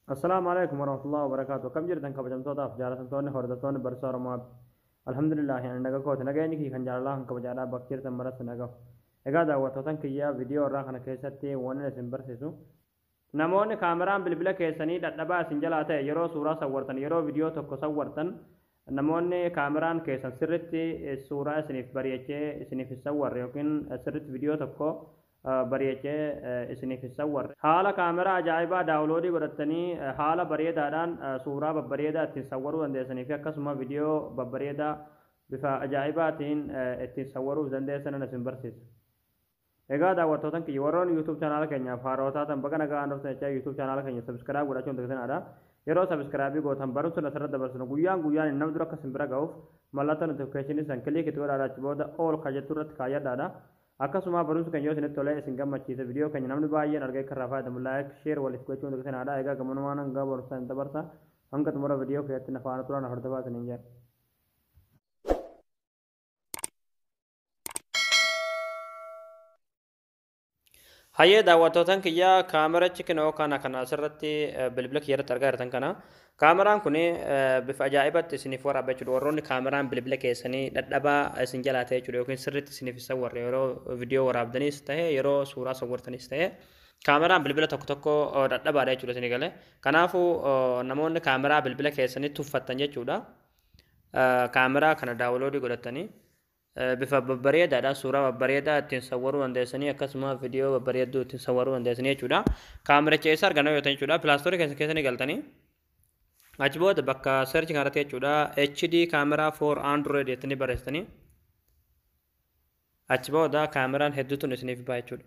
Assalaamu alaikum warahmatullahi wabarakaatu. Akkam jirtan kabajamtootaaf jaalatamtoonni hordoftoonni barsiisaa Oromoo Abdi. Alhamdulillah ani naga kooti nageenyi kiyya kan jaalalaa kan kabajaadhaa bakka jirtan maratti nagahu. Egaa daawwattootan kiyyaa viidiyoo irraa kana keessatti waan isin barsiisu. Namoonni kaameraan bilbila keessanii dadhabaa isin jalaa ta'e yeroo suuraa sawwartan yeroo viidiyoo tokko sawwartan Namoonni kaameraan keessan sirritti suuraa isiniif bari'achee isiniif hin sawwarre yookiin sirritti vidiyoo tokko bari'achee isiniif hin sawwarre haala kaameraa ajaa'ibaa daawuloodii godhattanii haala bareedaadhaan suuraa babbareedaa ittiin sawwaruu dandeessanii fi akkasuma vidiyoo babbareedaa bifa ajaa'ibaatiin ittiin sawwaruuf dandeessanan isin barsiisa. Egaa daawwattootan kiyya warroonni YouTube channel keenyaaf haarawa taatan baga nagaan dhuftan jechaa YouTube channel keenya subscribe godhachuu hin dagatinaa. Yeroo subscribe gootan barumsonni asirratti dabarsinu guyyaan guyyaan nama dura akka isin bira ga'uuf mallattoo notification san click itti godhaadha achi booda all kan jettu irratti kaayyadhaadha. Akkasuma barumsi keenya yoo isinitti tolee isin gammachiise video keenya namni baay'een argee akka irraa fayyadamu like share waliif gochuu hin dagatinaa. Egaa gamanumaan hanga barumsaa hin dabarsa hanga xumura video keenyatti na faana turaa na hordofaa isiniin jedha. Hayyee daawwattootan kiyya kaamerachi kinoo kana kana asirratti eh, bilbila kiyya irratti argaa jirtan kana kaameraan kun bifa ajaa'ibatti isiniif waraaba jechuudha warroonni kaameraan bilbila keessanii dhadhabaa isin jalaa ta'e jechuudha yookiin sirriitti isiniif isa warra yeroo viidiyoo waraabdanis ta'e yeroo suuraa sawwartanis ta'e kaameraan bilbila tokko tokko eh, dhadhabaadha jechuudha isinii galee kanaafuu eh, namoonni kaameraa bilbila keessanii tuffattan jechuudha Eh, kaameraa kana daawuloodii godhattanii Bifa babbareedaadha. Suuraa babbareedaa ittiin sawwaruu dandeessanii akkasuma viidiyoo babbareedduu ittiin sawwaruu dandeessanii jechuudha. Kaamericha eessa arganna yoo ta'e jechuudha. Pilaastoorii keessa keessa ni galtanii. Achi booda bakka search kanarratti jechuudha HD camera for Android jettanii barreessitanii. Achi booda kaameraan hedduutu isiniif ba'a jechuudha.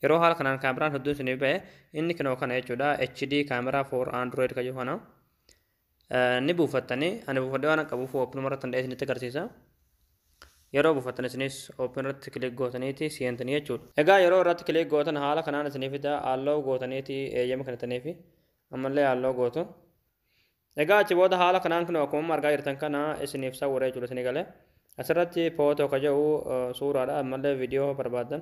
Yeroo haala kanaan kaameraan hedduun isiniif ba'e inni kinoo kana jechuudha HD camera for Android kan jedhu kana. ni buufattanii ani buufadhee waan qabuuf oopinuma irratti hunda'ee isinitti agarsiisa. Yeroo buufattan isinis oopin irratti kilik gootaniiti seentanii jechuudha. Egaa yeroo irratti kilik gootan haala kanaan isinii fida halloo gootaniiti eeyyama kennitaniifi ammallee halloo gootu. Egaa achi booda haala kanaan kun akkuma argaa jirtan kana isiniif sawwira jechuudha isinii galee. Asirratti footoo ka jedhu suuraadha ammallee viidiyoo barbaaddan.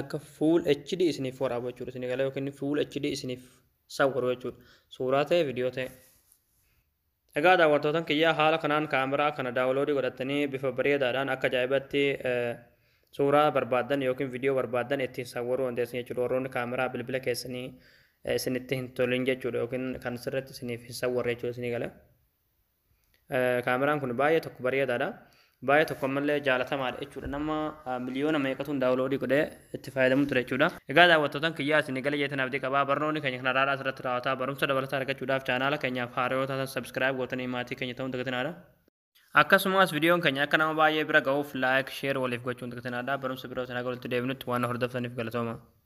akka full HD isiniif waraabu jechuudha isin eegala yookiin full HD isiniif sawwaru jechuudha suuraa ta'e viidiyoo ta'e. Egaa daawwattootan kiyyaa haala kanaan kaameraa kana daawuloodii godhattanii bifa bareedaadhaan akka ajaa'ibatti suuraa barbaaddan yookiin viidiyoo barbaaddan ittiin sawwaruu dandeessan jechuudha warroonni kaameraa bilbila keessanii isinitti hin tolin jechuudha yookiin kan sirriitti isiniif hin sawwarre jechuudha isinii gala. Kaameraan kun baay'ee tokko bareedaadha. Baay'ee tokko ammallee jaalatamaadha jechuudha. Nama miliyoona meeqatuun daawuloodii godhee itti fayyadamu ture jechuudha. Egaa daawwattootaan kiyyaa isin gala jeetan abdii qabaa. Barnoonni keenya kan har'aadhaas irratti raawwataa. Barumsa dabalataa argachuudhaaf chaanaala keenyaaf haarayoo taatan subscribe gootanii maatii keenya ta'uun dagatinaadha. Akkasumas viidiyoon keenya akka nama baay'ee bira ga'uuf like, share waliif gochuun dagatinaadha. Barumsa birootiin haga walitti deebinutti waan hordoftaniif galatooma.